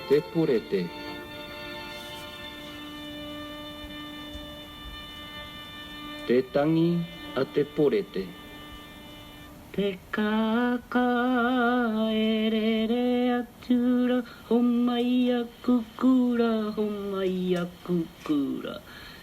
Te Purete Te tangi a te porete. Te kākā e rere atu ra Homai aku kura, homai aku kura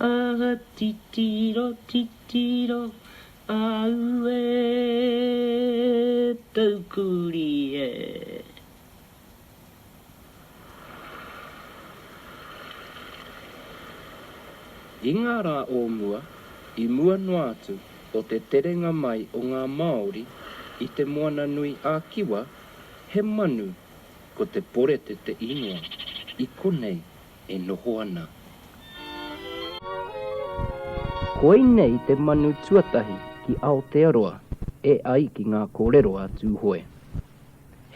Aha titiro titiro aue poukuri e. I ngā rā o mua, i mua noa atu o te terenga mai o ngā Māori i Te Moananui a Kiwa, he manu, ko te porete te īngoa, i konei e noho ana. Koinei te manu tuatahi ki Aotearoa e ai ki ngā kōrero a Tūhoe.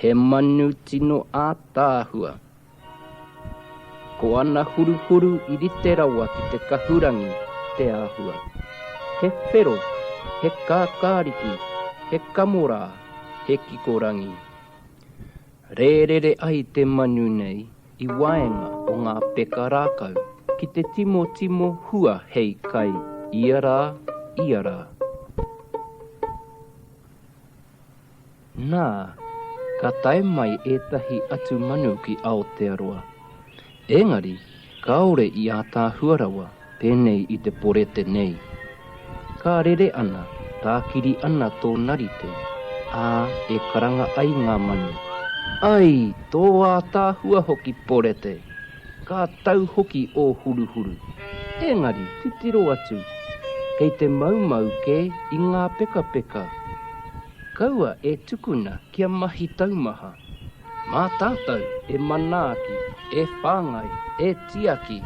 He manu tino ātaahua. Ko ana huruhuru i rite rawa ki te kahurangi te āhua. He whero, he kākāriki, he kamorā, he kikorangi. Rērere ai te manu nei i waenga o ngā peka rākau ki te timotimo hua hei kai ia rā, ia rā. Nā, ka tae mai ētahi atu manu ki Aotearoa. Engari, kāore i ātaahua rawa pēnei i te porete nei. Ka rere ana, tākiri ana tō narite, ā, e karanga ai ngā manu. Ai, tō ātaahua hoki porete! Ka tau hoki ō huruhuru. Engari, titiro atu, kei te maumau kē i ngā pekapeka. Kaua e tukuna Kia mahi taumaha. Mā tātou e manaaki, e whāngai, e tiaki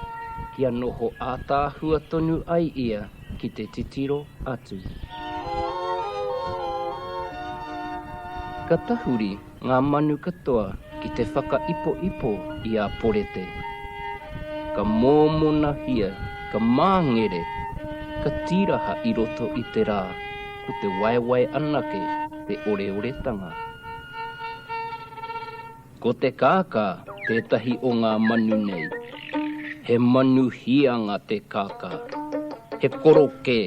kia noho ātaahua tonu ai ia ki te titiro atu. Ka tahuri ngā manu katoa ki te whakaipoipo i a Porete. Ka mōmonahia, ka māngere, ka tīraha i roto i te rā, ko te waewae anake. Te oreoretanga Ko te kākā tētahi o ngā manu nei. He manu hīanga te kākā. He korokē,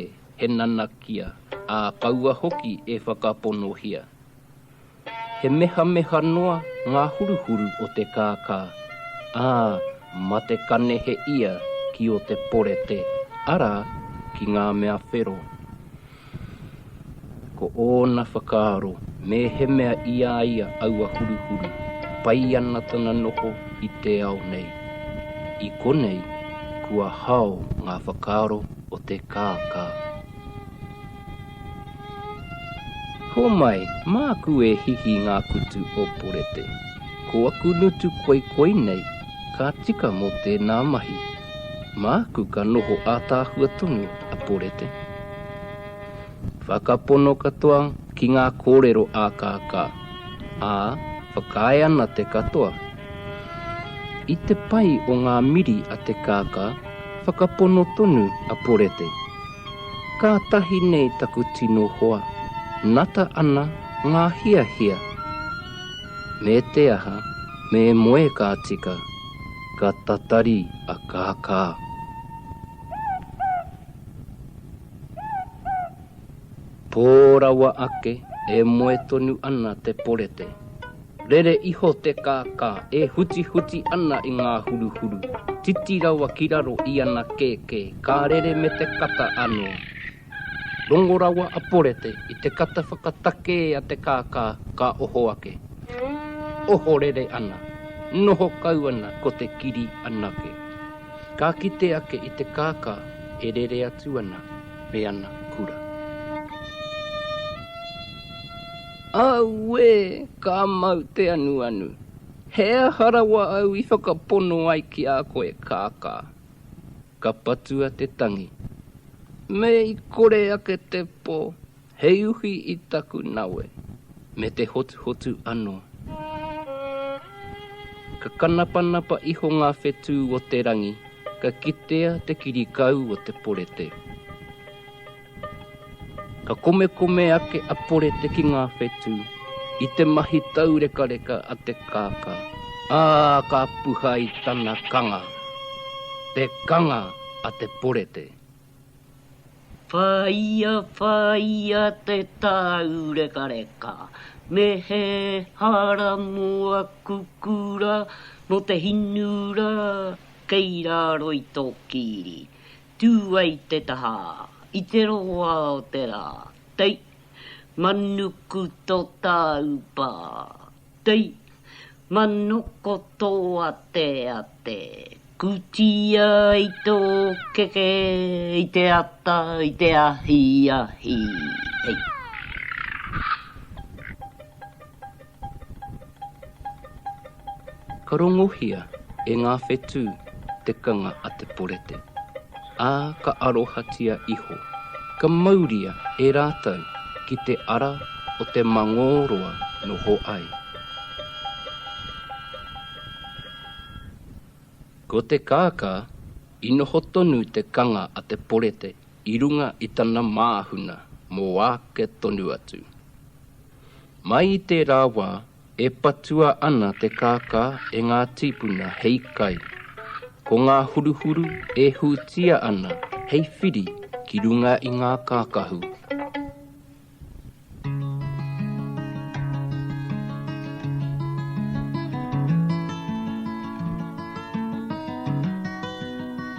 he nanakia, ā, kaua hoki e whakaponohia. He mehameha noa ngā huruhuru o te kākā, ā, mā te kanehe ia ki ō te porete, arā, ki ngā mea whero. Ko ōna whakaaro, mēhemea i a ia aua huruhuru, pai ana tana noho i te ao nei. I konei, kua hao ngā whakaaro o te kākā. Homai, māku e hihi ngā kutu o Porete. Ko aku nutu koikoi nei, ka tika mō tēnā mahi. Māku ka noho ātaahua tonu a Porete. Whakapono katoa ki ngā kōrero ākaakā, ā, whakaae ana te katoa. I te pai o ngā miri a Te Kākā, whakapono tonu a Porete, Kātahi nei taku tino hoa, nata ana ngā hiahia. Me te aha, me moe ka tika. ka tatari a Kākā. Pō rawa ake e moe tonu ana te porete. Rere iho te Kākā e hutihuti ana i ngā huruhuru, titi rawa ki raro i ana kēkē, ka rere me te kata anō. Rongo rawa a Porete i te kata whakatakē a te kākā ka oho ake. Ohorere ana, noho kau ana ko te kiri anake. Ka kite ake i te kākā e rere atu ana me ana kura. Auē! Ka mau te anuanu. He aha rawa au i whakapono ai ki a koe, kākā? Ka patua te tangi. Me i kore ake te po, hei uhi i taku nawe, me te hotuhotu ano. Ka kanapanapa iho nga whetu o te rangi, ka kitea te kirikau o te porete. Ka komekome ake a Porete ki ngā whetū i te mahi taurekareka a te kākā, ā, ka puha i tana kanga, te kanga a te Porete. Whāia, whāia te tāurekareka, me he hara mō aku kura, mō te hinura kei raro i tō kīri. Tū ai te taha, i te roa o te rā, tei! Manuku tō tāu pā, tei! Manoko tō ateate, kūtia ai tō keke i te ata, i te ahiahi, tei! Ka rongohia e ngā whetū te kanga a Te Porete, ā, ka arohatia iho, ka mauria e rātou ki te ara o te Mangōroa noho ai. Ko te kākā, i noho tonu te kanga a Te Porete i runga i tana māhuna mō āke tonu atu. Mai i tērā wā, e patua ana te kākā e ngā tīpuna hei kai. Ko ngā huruhuru e hūtia ana hei whiri ki runga i ngā kākahu.